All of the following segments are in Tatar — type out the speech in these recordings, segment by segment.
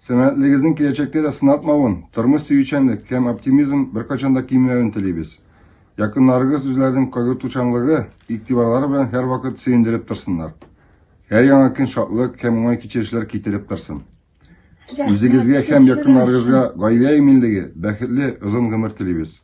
Сәламәтлегегезнең киләчәктә дә сынатмавын, тормыш сөючәнлек һәм оптимизм беркайчан да кимемәвен телибез. Якыннарыгыз үзләренең кайгыртучанлыгы, игътибарлары белән һәрвакыт сөендереп торсыннар. Һәр яңа көн шатлык һәм уңай кичерешләр китереп торсын. Үзегезгә һәм якыннарыгызга гаилә иминлеге, бәхетле, озын гомер телибез.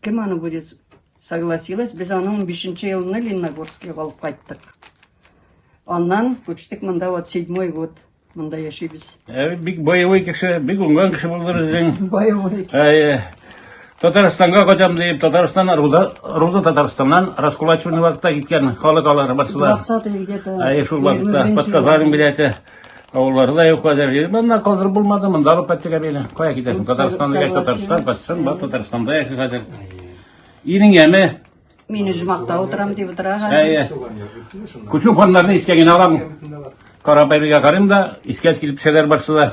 Кем аны будет согласилась? Без аны 15 елны Лениногорскига алып кайттык. Аннан күчтек монда вот 7 год монда яшибез. Ә бик боевой кеше, бик уңган кеше булды безнең. Боевой. Ә Татарстанга кайтам дип, Татарстан Руда, Руда Татарстаннан раскулачивный вакытта киткән халык алары барсылар. 20 где-то. Ә шул вакытта подказали билеты. Авылларда юк хәзер. Монда калдырып булмады, монда алып кайттык әбине. Кая китәсең? Татарстанда яшь Татарстан, Патшан, бар Татарстанда яши хәзер. Ириңгәме? Мин Жмакта утырам дип утыра хәзер. Әйе. Күчү ханнарны искә генә алам. Карабайбигә карыйм да, искә килеп төшәләр барсы да.